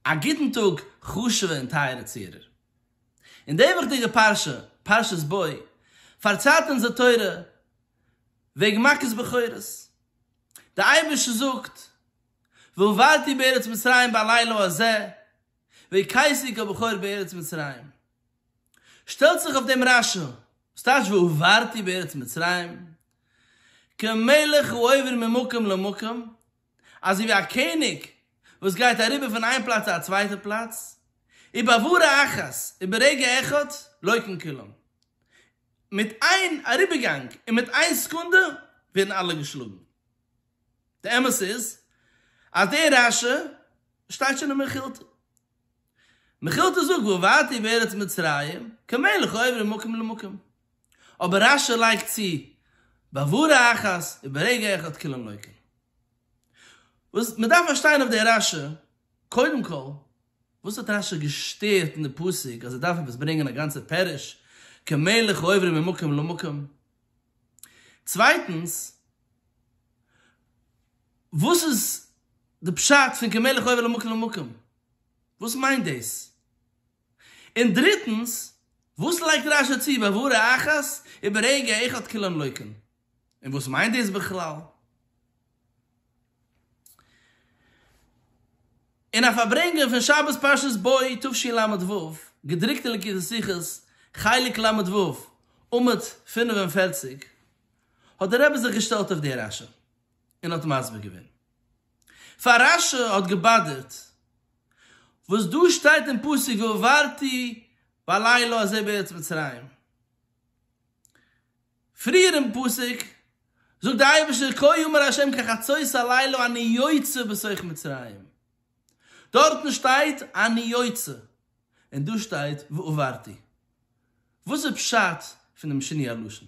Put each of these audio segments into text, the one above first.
א גוטן טאג חשוב'ע און טייערע צוהערער. אין די וואכדיגע פרשה, פרשת בוא, פארציילט אונז די תורה וועגן מכות בכורות. דער אייבערשטער זאגט, והובלתי בארץ מצרים בלילה הזה, והכיתי כל בכור בארץ מצרים. שטעלט זיך אויף דעם רשע, וואס טייטש והובלתי בארץ מצרים? כמלך הוא עובר ממקום למקום, אזוי ווי א קעניג וואס גייט אריבער פון איין פלאץ צו א צווייטע פלאץ, ובעבורה אחת, וברגע אחד, לא יקום כי לן. מיט איין אריבערגאנג און מיט איין סעקונדע ווערן אלע געשלאגן. די אמת איז אז דער רשע שטייט שוין אין מכילתא. מכילתא זאגט ועברתי בארץ מצרים כמלך העובר ממקום למקום. אבער רשי לייגט צו בעבורה אחת וברגע אחד כולם לויקין. וואס מ'דארף פארשטיין אויף די רשי, קודם כל, וואס האט רשי געשטערט אין די פסוק אז ער דארף עפעס ברענגען א גאנצע פירוש כמלך העובר ממקום למקום? צווייטנס, וואס איז די פשט פון כמלך עובר ממקום למקום? וואס מיינט דאס? און דריטנס, וואס לייגט רש י צו ביי והרע אחת וברגע אחד כולם לויקין? און וואס מיינט דאס בכלל? אין א פארברענגען פון שבת פרשת בא תשי ל ו, געדרוקט אין ליקוטי שיחות, חלק ל ו, עמוד פֿינף און פֿערציק, האט דער רבי זיך געשטעלט אויף די רש י. און האט מסביר געווען פאר רשע האט געבאדערט וואס דא שטייט אין פסוק ועברתי בלילה הזה בארץ מצרים. פריער אין פסוק זאגט דער אייבערשטער כה יאמר ה' כחצות הלילה אני יוצא בתוך מצרים. דארטן שטייט אני יוצא און דא שטייט ועברתי. וואס איז פשט פונעם שינוי הלשון?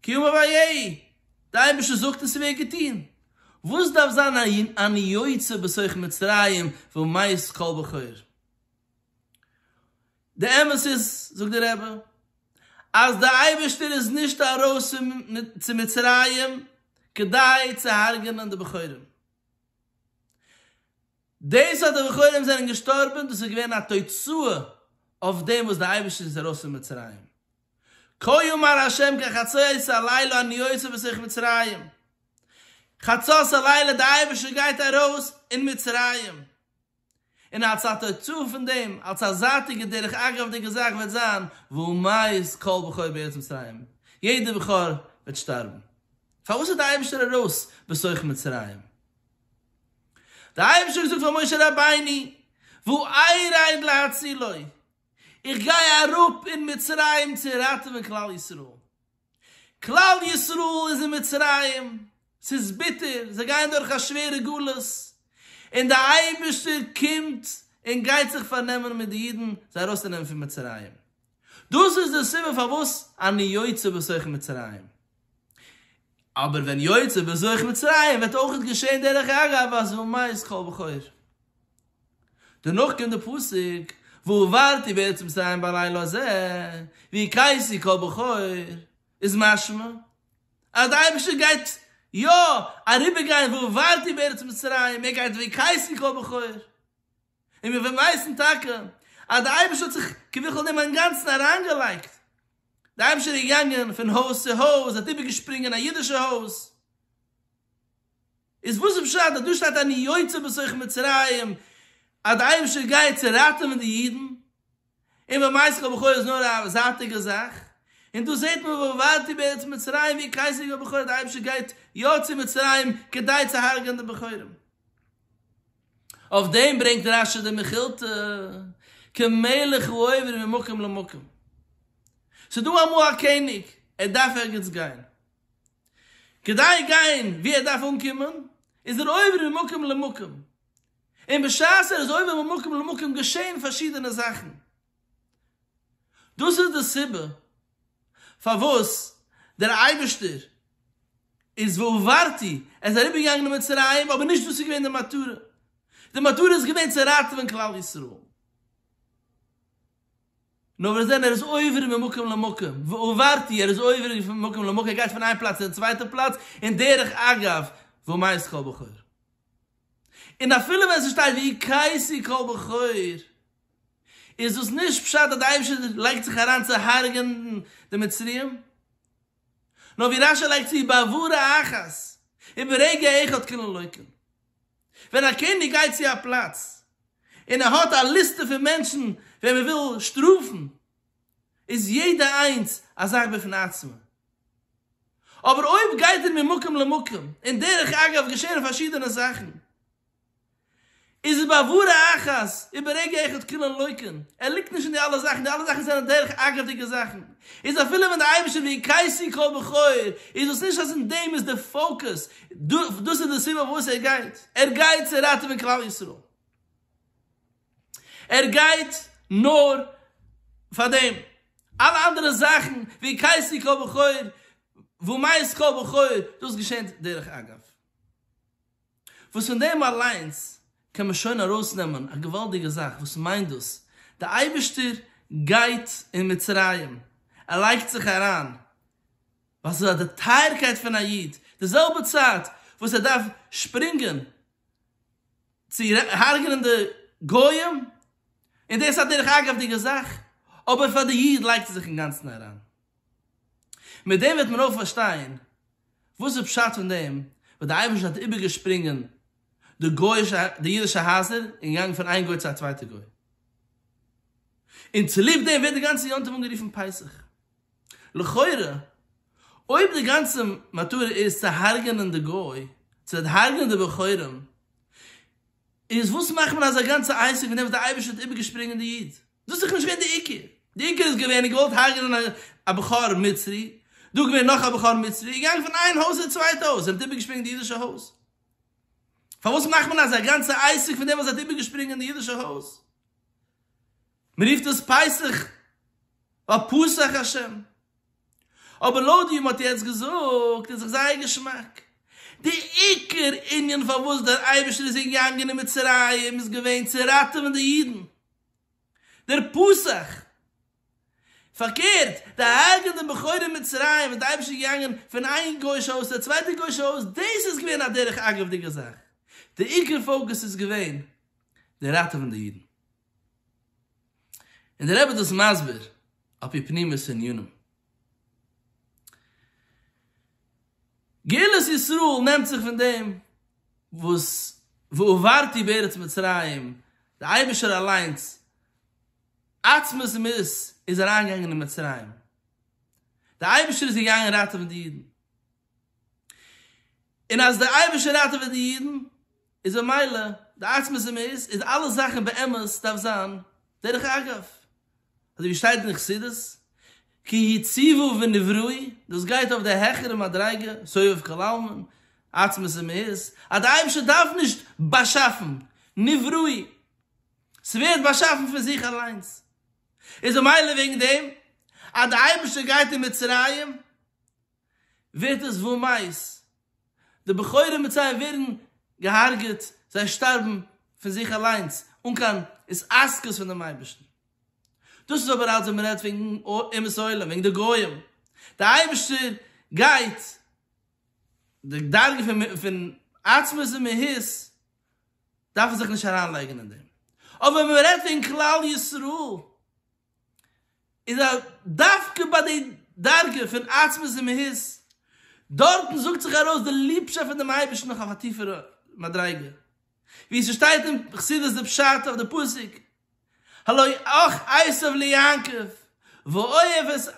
קיום אויף ויהי! די אייבערשטער זאגט און ס'ווערט געטון! וואס דארף זיין א אני יוצא בתוך מצרים ומאיס כל בכור? די אמת איז, זאגט דער רבי, אז די אייבערשטער איז נישט ארויס צו מצרים כדי צו הרג'נען די בכורים. דאס אז די בכורים זענען געשטארבען דאס איז געווען א תוצאה אויף דעם וואס די אייבערשטער איז ארויס פון מצרים. כה יאמר ה' כחצות הלילה אני יוצא בסך מצרים, חצות הלילה דער אייבערשטער גייט ארויס אין מצרים, און אלס א תוצאה פון דעם, אלס א זייטיגע דרך אגב'דיגע זאך וועט זיין, וימות כל בכור בארץ מצרים, יעדער בכור וועט שטארבן. פארוואס איז דער אייבערשטער ארויס בסך מצרים? דער אייבערשטער האט געזאגט פאר משה רבינו, וואו אייראין להצילו, איך גיי אראפ אין מצרים צו ראטעווען כלל ישראל, כלל ישראל איז אין מצרים, ס'איז ביטער, זיי גייען דורך א שווערע גלות, און דער אייבערשטער קומט און גייט זיך פארנעמען מיט די אידן זיי ארויסצונעמען פון מצרים, דאס איז די סיבה פארוואס אני יוצא בתוך מצרים, אבער ווען יוצא בתוך מצרים וועט אויך געשען דרך אגב אז ומאיס כל בכור. דערנאך קומט די פסוק, ועברתי בארץ מצרים בלילה הזה, ווי קייסי קול בכור, איז משמע אז די אייבערשטער גייט יא אריבער גיין ועברתי בארץ מצרים, ער גייט ווי קייסי קול בכור, און מיר ווייסן טאקע אז די אייבערשטער האט זיך כביכול דעם אינגאנצן אריינגעלייגט, די אייבערשטער איז געגאנגען פון הויז צו הויז, ער האט איבערגעשפרינגען א אידישע הויז, איז וואס איז פשט אז דא שטייט אני יוצא בתוך מצרים אז די אייבישטער גייט צו ראטעווען די אידן, און במעשה כל בכור איז נאר א זייטיגע זאך, און דא זעט מען ועברתי בארץ מצרים ווי קייסעריגע בכור אז די אייבישטער גייט יא צו מצרים כדי צו הרג'ען די בכורים. אויף דעם ברענגט רש י די מכילתא כמלך הוא עובר ממקום למקום. ס'דא אמאל א קעניג ער דארף ערגעץ גיין, כדי גיין וואו ער דארף אנקומען, איז ער עובר ממקום למקום, און בשעת ער איז עובר ממקום למקום געשען פארשידענע זאכן. דאס איז די סיבה פארוואס דער אייבערשטער איז והועברתי, ער איז אריבערגעגאנגען אין מצרים, אבער נישט דאס איז געווען די מטרה, די מטרה איז געווען צו ראטעווען כלל ישראל. נאר מיר זעהן ער איז עובר ממקום למקום, ועוברתי, ער איז עובר ממקום למקום, ער גייט פון איין פלאץ צו די צווייטע פלאץ, און דרך אגב, ומאז כל בחור. און אפילו ווען ס'שטייט ויקייסי כל בחור, איז דאס נישט פשט אז די אייבערשטער לייגט זיך אריין צו הרג'ענען די מצריים, נאר ווי רשי לייגט צו בעבורה אחת, וברגע אחד כלו אלוקים. ווען א קעניג גייט צו א פלאץ און ער האט א ליסטע פון מענטשן וועם ער וויל שטראפן, איז יעדע איינס א זאך בפני עצמה. אבער אויב גייט ער ממקום למקום, און דרך אגב געשעהן פארשידענע זאכן, איז ער בעבור האחת וברגע אחד כולן לויקן, ער ליגט נישט אין די אלע זאכן, די אלע זאכן זענען דרך אגב'דיגע זאכן, איז אפילו ווען די אייבישטער ויקייסי קול בחור, איז דאס נישט אז אין דעם איז די פאוקעס, דאס איז די סיבה פארוואס ער גייט, ער גייט צו ראטעווען כלל ישראל, ער גייט נאר פאר דעם, אלע אנדערע זאכן ווי קייסי כל בכור ומעש כל בכור דאס געשענט דרך אגב, וואס פון דעם אליינס קען מען שוין ארויסנעמען א געוואלדיגע זאך, וואס מיינט דאס? די אייבערשטער גייט אין מצרים, ער לייגט זיך אריין, ווייל ס'איז די טייערקייט פון א איד, די זעלבע צייט וואס ער דארף שפרינגען צו הרג'נען די גויים, און דאס איז א דרך אגב'דיגע זאך, אבער פאר די איד לייגט ער זיך אינגאנצן אריין. מיט דעם וועט מען אויך פארשטיין וואס איז פשט פון דעם וואס דער אייבערשטער האט איבערגעשפרינגען די גוי'אישע די אידישע הייזער און געגאנגען פון איין גוי צו א צווייטע גוי, און צוליב דעם ווערט די גאנצע יום טוב אנגערופן פסח, לכאורה אויב די גאנצע מטרה איז צו הרג'נען די גוי, צו הרג'נען די בחורים, איז וואס מאכט מען אזא גאנצע עסק פון דעם וואס די אייבערשטער האט איבערגעשפרינגען די איד? דאס איז דאך נישט געווען די עיקר, די עיקר איז געווען געוואלט הרג'נען א בחור מצרי, דא געווען נאך א בחור מצרי, געגאנגען פון איין הויז צו די צווייטע הויז, זיי האבן איבערגעשפרינגען די אידישע הויז, פארוואס מאכט מען אזא גאנצע עסק פון דעם וואס זיי האט איבערגעשפרינגען די אידישע הויז? מען רופט עס פסח ווייל פסח השם, אבער לויט ווי מען האט יעצט געזאגט איז זיך זייער געשמאק. די עיקר ענין פארוואס דער אייבערשטער איז געגאנגען אין מצרים איז געווען צו ראטעווען די אידן, דער פסח. פארקערט, די הרג'ען די בכורים אין מצרים וואס די אייבערשטער איז געגאנגען פון איין גוי'שע הויז צו א צווייטע גוי'שע הויז, דאס איז געווען א דרך אגב'דיגע זאך. די עיקר פאוקוס איז געווען די ראטעווען די אידן. און דער רבי איז דאס מסביר על פי פנימיות ענינים. גאולת ישראל נעמט זיך פון דעם וואס ועברתי בארץ מצרים, דער אייבערשטער אליינס עצמות מות איז אריינגעגאנגען אין מצרים, דער אייבערשטער איז געגאנגען ראטעווען די אידן, און אז דער אייבערשטער ראטעוועט די אידן איז ממילא די עצמות אמת, איז אלע זאכן באמת דארף זיין דרך אגב, אזוי ווי שטייט אין חסידות, כי הציבו ונבראו, דאס גייט אויף די העכערע מדריגה, סובב כל עלמין, עצמות אמת, אז דער אייבערשטער דארף נישט באשאפן, נבראו, ס'ווערט באשאפן פון זיך אליינס, איז ממילא וועגן דעם אז דער אייבערשטער גייט אין מצרים, ווערט עס וואו מייז, די בחורים מיט זיי ווערן געהארגעט, זיי שטארבן פון זיך אליינס אן קיין התעסקות פון דעם אייבערשטן. דאס איז אבער אלץ ווען מען רעדט וועגן אומות העולם, וועגן די גוים. דער אייבערשטער גייט, די דרגה פון עצמות און מהות דארף מען זיך נישט אריינלייגן אין דעם. אבער ווען מען רעדט וועגן כלל ישראל, איז אז דווקא ביי די דרגה פון עצבות און מהות, דארטן זאגט זיך ארויס די ליבשאפט פון דעם אייבערשטן אויף א טיפערע מדריגה, ווי ס'שטייט אין חסידות די פשט אויף די פסוק הלואי אח עשו ליעקב ואוהב את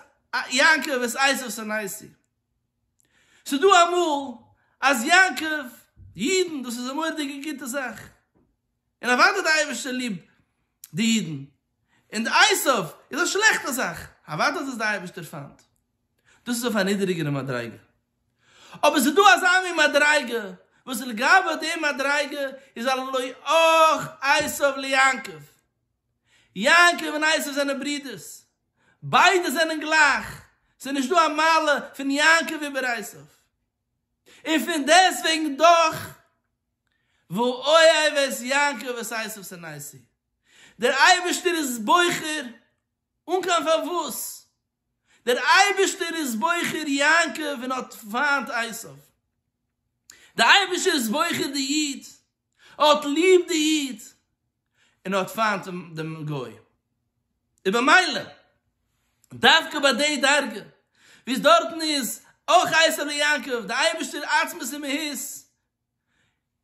יעקב ואת עשו שנאתי. ס'דא אמאל אז יעקב, אידן, דאס איז א מורא'דיגע גוטע זאך, און אוודאי די אייבערשטער ליבט די אידן, און די עשיו איז א שלעכטע זאך, אוודאי איז עס די אייבערשטער פיינט, דאס איז אויף א נידעריגערע מדריגה, אבער עס איז דא אזא מין מדריגה וואס לגבי די מדריגה איז א לא אח עשיו ליעקב, יעקב און עשיו זענען ברודערס, ביידע זענען גלייך, ס'איז נישט דא א מעלה פון יעקב איבער עשיו, און פון דעסטוועגן דאך וואו אוהב את יעקב ואת עשיו שנסי, דער אייבערשטער איז בוחר אן קיין פארוואס, דער אייבערשטער איז בוחר יעקב און האט פיינט עשיו, דער אייבערשטער איז בוחר די איד, האט ליב די איד און האט פיינט דעם גוי, און במילא דווקא ביי די דרגה וואו עס דארטן איז אויך עשו ליעקב, די אייבערשטער עצמות און מהות,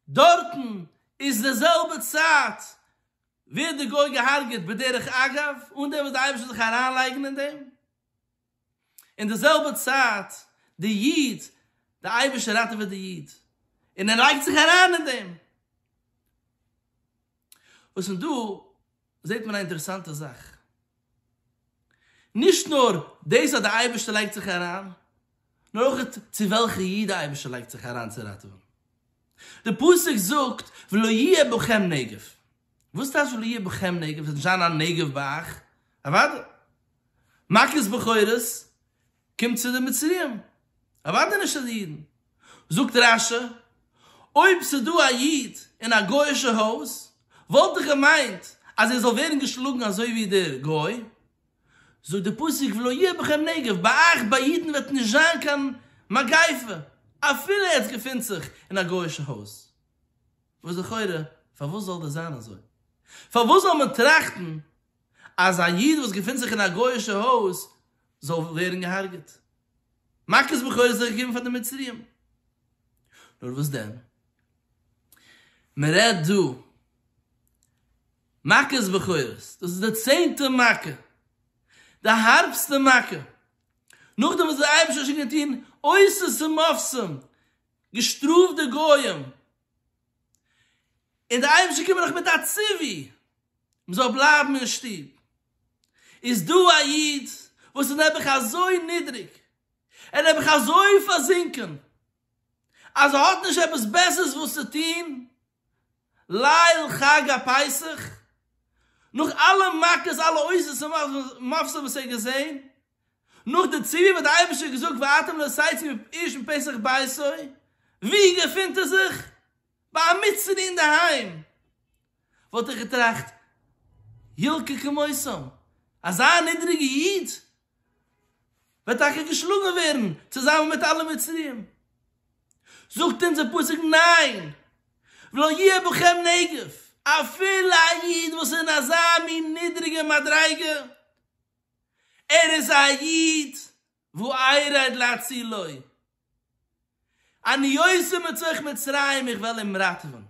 דארטן איז די זעלבע צייט ווערט די גוי געהארגעט בדרך אגב, אן דעם וואס די אייבערשטער זאל זיך אריינלייגן אין דעם. אין די זעלבע צייט די איד, די אייבערשטער ראטעוועט די איד, און ער לייגט זיך אריין אין דעם. וואס פון דא זעט מען א אינטערעסאנטע זאך, נישט נאר דאס אז די אייבערשטער לייגט זיך אריין, נאר אויך צו וועלכע איד די אייבערשטער לייגט זיך אריין צו ראטעווען. די פסוק זאגט ולא יהיה בכם נגף, וואס טייטש ולא יהיה בכם נגף, עס וועט נישט זיין א נגף ביי אייך? אוודאי, מכות בכורות קומט צו די מצריים, אוודאי נישט צו די אידן. זאגט רשי, אויב ס'איז דא א איד אין א גוי'אישע הויז, וואלט דאך געמיינט אז ער זאל ווערן געשלאגן אזוי ווי דער גוי. זאגט דער פסוק ולא יהיה בכם נגף, ביי אייך ביי אידן וועט נישט זיין קיין מגיפה, אפילו ער געפינט זיך אין א גוי'אישע הויז. וואס לכאורה, פארוואס זאל דאס זיין אזוי? פארוואס זאל מען טראכטן אז א איד וואס געפינט זיך אין א גוי'אישע הויז זאל ווערן געהארגעט. מכות בכורות זיך געגעבן פאר די מצריים. נאר וואס דען? מען רעדט דא מכות בכורות, דאס איז די צענטע מכה, די הארבסטע מכה, נאכדעם וואס דער אייבערשטער האט שוין געטון עושות ומופתים, געשטראפט די גויים און דער אייבערשטער קומט דאך מיט א ציווי מען זאל בלייבן אין שטוב, איז דא א איד וואס איז נעבעך אזוי נידריג, ער איז נעבעך אזוי פארזינקען, אז ער האט נישט עפעס בעסערס וואס צו טון ליל חג הפסח, נאך אלע מכות אלע עוזות ומפסות וואס ער האט געזען, נאך די ציבור האט דער אייבערשטער געזאגט ואתם לא סייצים אויף איש מפסח ביתו, ווי געפינט ער זיך? ביי א מצווה אינדערהיים! וואלט איך געטראכט ילקה כמותם, אזא נידריגע איד וועט טאקע געשלאגן ווערן צוזאמען מיט אלע מצריים? זאגט אונז דער פסוק ניין! ולא יהיה בכם נגף, אפילו א איד וואס איז אין אזא מין נידריגע מדריגה, ער איז א איד ואיירא איד להצילו, אני יוצא מתוך מצרים איך וועל אים ראטעווען.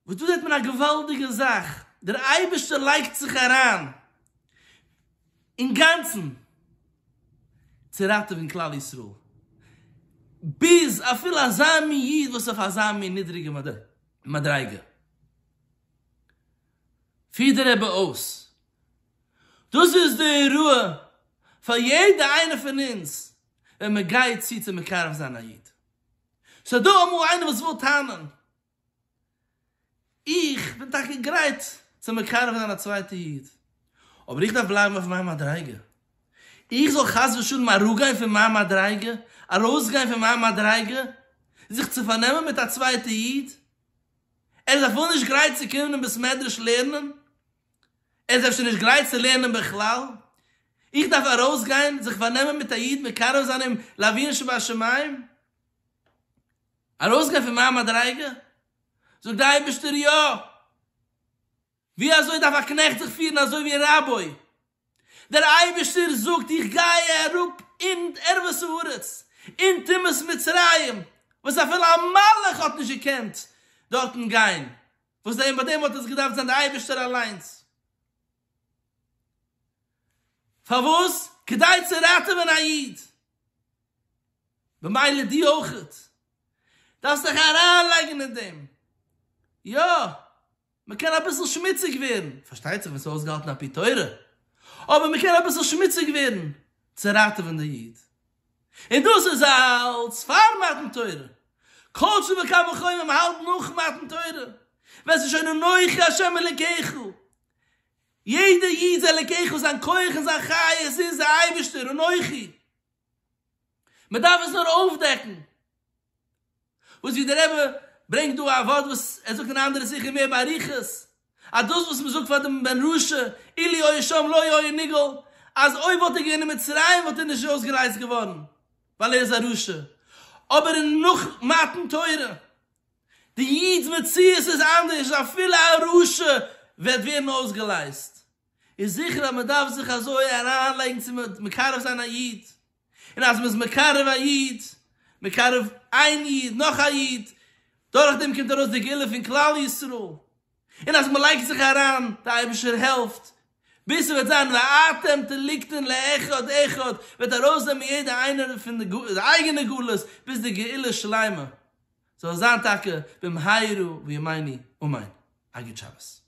וואס דא זעט מען א געוואלדיגע זאך, דער אייבערשטער לייגט זיך אריין אינגאנצן צו ראטעווען כלל ישראל, ביז אפילו אזא מין איד וואס אויף אזא מין נידריגע מדריגה. פירט דער רבי אויס, דאס איז די הוראה פאר יעדע איינער פון אונז ווען מען גייט צו צו מקרב זיין א איד. ס'איז דא אמאל איינער וואס וויל טענה'ן, איך בין טאקע גרייט צו מקרב זיין א צווייטע איד, אבער איך דארף בלייבן אויף מיין מדריגה, איך זאל חס ושלום אראפגיין פון מיין מדריגה, ארויסגיין פון מיין מדריגה, זיך צו פארנעמען מיט א צווייטע איד? ער איז אפילו נישט גרייט צו קומען אין בית מדרש לערנען, ער איז אפשר נישט גרייט צו לערנען בכלל, איך דארף ארויסגיין זיך פארנעמען מיט א איד מקרב זיין אים לאבינו שבשמים? ארויסגיין פון מיין מדריגה? זאגט דער אייבערשטער יא! ווי אזוי דארף א קנעכט זיך פירן אזוי ווי רבו ע? דער אייבערשטער זאגט איך גיי אראפ אין ערוות הארץ, אין טומאת מצרים, וואס אפילו א מלאך האט נישט געקענט דארטן גיין, וואס דען ביי דעם האט עס געדארפט זיין דער אייבערשטער אליינס, פארוואס? כדי צו ראטעווען א איד, במילא דו אויך דארפסט דיך אריינלייגן אין דעם, יא, מ'קען אביסל שמוציג ווערן, פארשטייט זיך ווען ס'איז אויסגעהאלטן על פי תורה, אבער מ'קען אביסל שמוציג ווערן צו ראטעווען די איד, און דאס איז אלץ פאר מתן תורה, כל שכן וקל וחומר מ'האלט נאך מתן תורה, ווען ס'איז שוין אנכי השם אלקיך, יעדע איד איז אלקיך, זיין כח און זיין חיות איז די אייבערשטער, אנכי. מ'דארף עס נאר אויפדעקן. וואס ווי דער רבי ברענגט דא א ווארט וואס ער זאגט אין א אנדערע שיחה מער באריכות, אז דאס וואס מ'זאגט פאר דעם בן רשע, אילו היה שם לא היה נגאל, אז אויב וואלט ער געווען אין מצרים וואלט ער נישט אויסגעלייזט געווארן, ווייל ער איז א רשע. אבער אין נאך מתן תורה, די איד'ס מציאות איז אנדערש, אפילו א רשע וועט ווערן אויסגעלייזט. איז זיכער אז מען דארף זיך אזוי אריין לייגן צו מקרב זיין א איד, און אז מען איז מקרב א איד, מקרב איין איד נאך א איד, דורך דעם קומט ארויס די גאולה פון כלל ישראל, און אז מען לייגט זיך אריין, די אייבערשטער העלפט, ביז ס'וועט זיין ואתם תליקטין לאחד אחד, וועט ארויסנעמען יעדע איינער פון די אייגענע גלות ביז די גאולה שלימה זאל זיין טאקע במהרה בימינו אמן, א גוט שבת.